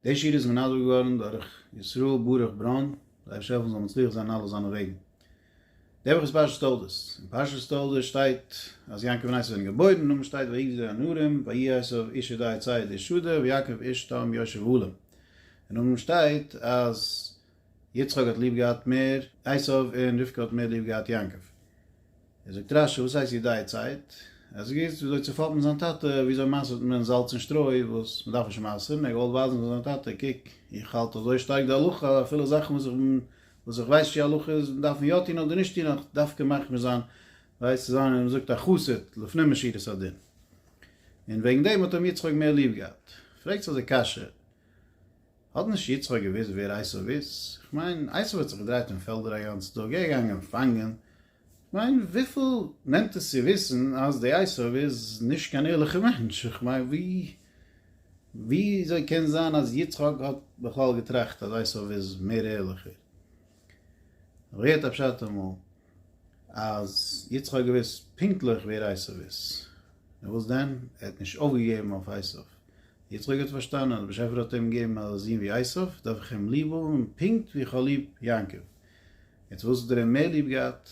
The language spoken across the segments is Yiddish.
די שיר איז מנדב געווארן דורך ישראל ברוך בראון, זיי ה שעלפן זאל מצליח זיין אין אלע זיינע וועגן. נעבעך איז פרשת תולדות, אין פרשת תולדות שטייט אז יעקב און עשו זענען געבוירן, אין נאמען שטייט ויגדל די הנערים, ויהי עשו איש ידי צייד איש שדה, ויעקב איש תם יושב עולם. אין נאמען שטייט אז. יצחק האט ליב געהאט מער עשו און רבקה האט מער ליב געהאט יעקב. ער זאגט רשי, וואס הייסט ידייצייט? ער האט זיך געוואוסט וויאזוי צו פאפן זיין טאטע, וויאזוי מייסערט מען זאלץ און שטרוי וואס מען דארף נישט מייסערן, ער האט געוואלט ווייזן פאר זיין טאטע, קוק, איך האלט אזוי שטארק די הלכה, אפילו זאכן וואס איך בין, וואס איך ווייס צ'י הלכה איז, דארף מען יא טון אדער נישט טון, אך דווקא מחמיר זיין, ווייזט צו זיין ווי מען זאגט א חסיד, לפנים משירת הדין. און וועגן דעם האט אים יצחק מער ליב געהאט. פרעגט זיך די קשיא, האט נישט יצחק געוואוסט ווער עשיו איז? כ'מיין עשיו האט זיך געדרייט אין פעלדער א גאנצע טאג ער איז געגאנגען פאנגען, כ'מיין וויפיל נעמט עס צו וויסן אז די עשיו איז נישט קיין ערליכע מענטש, כ'מיין וויאזוי קען זיין אז יצחק האט בכלל געטראכט אז עשיו איז מער ערליכער? ווער האט א פשט אמאל? אז יצחק האט געוואוסט פונקטליך ווער עשיו איז, נאר וואס דען, ער האט נישט אויפגעגעבן אויף עשיו. יצחק האט פארשטאנען אז דער באשעפער האט אים געגעבן א זון ווי עשיו, דארף איך אים ליב האבן פונקט ווי איך האב ליב יעקב. יעצט וואס האט ער אים מער ליב געהאט?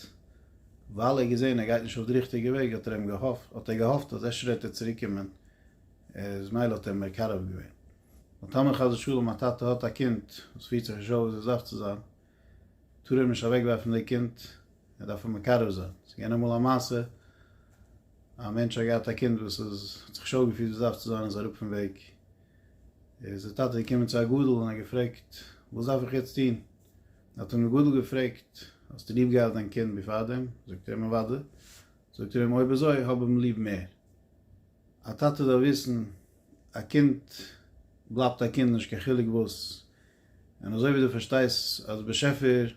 ווייל ער האט געזען ער גייט נישט אויף די ריכטיגע וועג האט ער אים געהאפט, האט ער געהאפט אז אפשר וועט ער צוריק קומען, איז מילא האט ער אים מקרב געווען. ווייל טאמער חס ושלום א טאטע האט א קינד וואס פירט זיך נישט אויף ווי זי דארף צו זיין, טאר ער נישט אוועק ווארפן די קינד, ער דארף אים מקרב זיין, ס'איז געווען אמאל א מעשה, א מענטש האט געהאט א קינד וואס איז, האט זיך נישט אויף געפירט ווי ס'דארף צו זיין, איז אראפ פון וועג, איז די טאטע געקומען צו א גדול און האט געפרעגט, וואס דארף איך יעצט טון? האט אים די גדול געפרעגט, האסטו ליב געהאט דיין קינד ווי פארדעם? זאגט ער אים אוודאי, זאגט ער אים אויב אזוי האב אים ליב מער, א טאטע דארף וויסן, א קינד בלייבט א קינד נישט קיין חילוק וואס, און אזוי ווי דו פארשטייסט אז באשעפער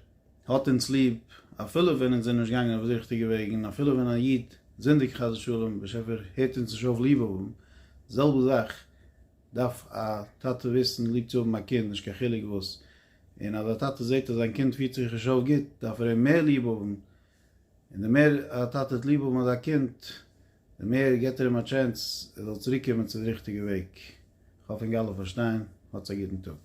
האט אונז ליב אפילו ווען אונז זענען נישט געגאנגען אויף די ריכטיגע וועג און אפילו ווען א איד זינדיגט חס ושלום באשעפער הערט אונז נישט אויף ליב האבן, די זעלבע זאך דארף א טאטע וויסן ליב צו האבן א קינד נישט קיין חילוק וואס, און אז א טאטע זעט אז זיין קינד פירט זיך נישט אויף גוט דארף ער אים מער ליב האבן און די מער א טאטע האט ליב האבן אזא קינד, די מער געט ער אים א טשענס ער זאל צוריקקומען צו די ריכטיגע וועג. כ'האף אונג אלע פארשטייען. האטס א גוטן טאג.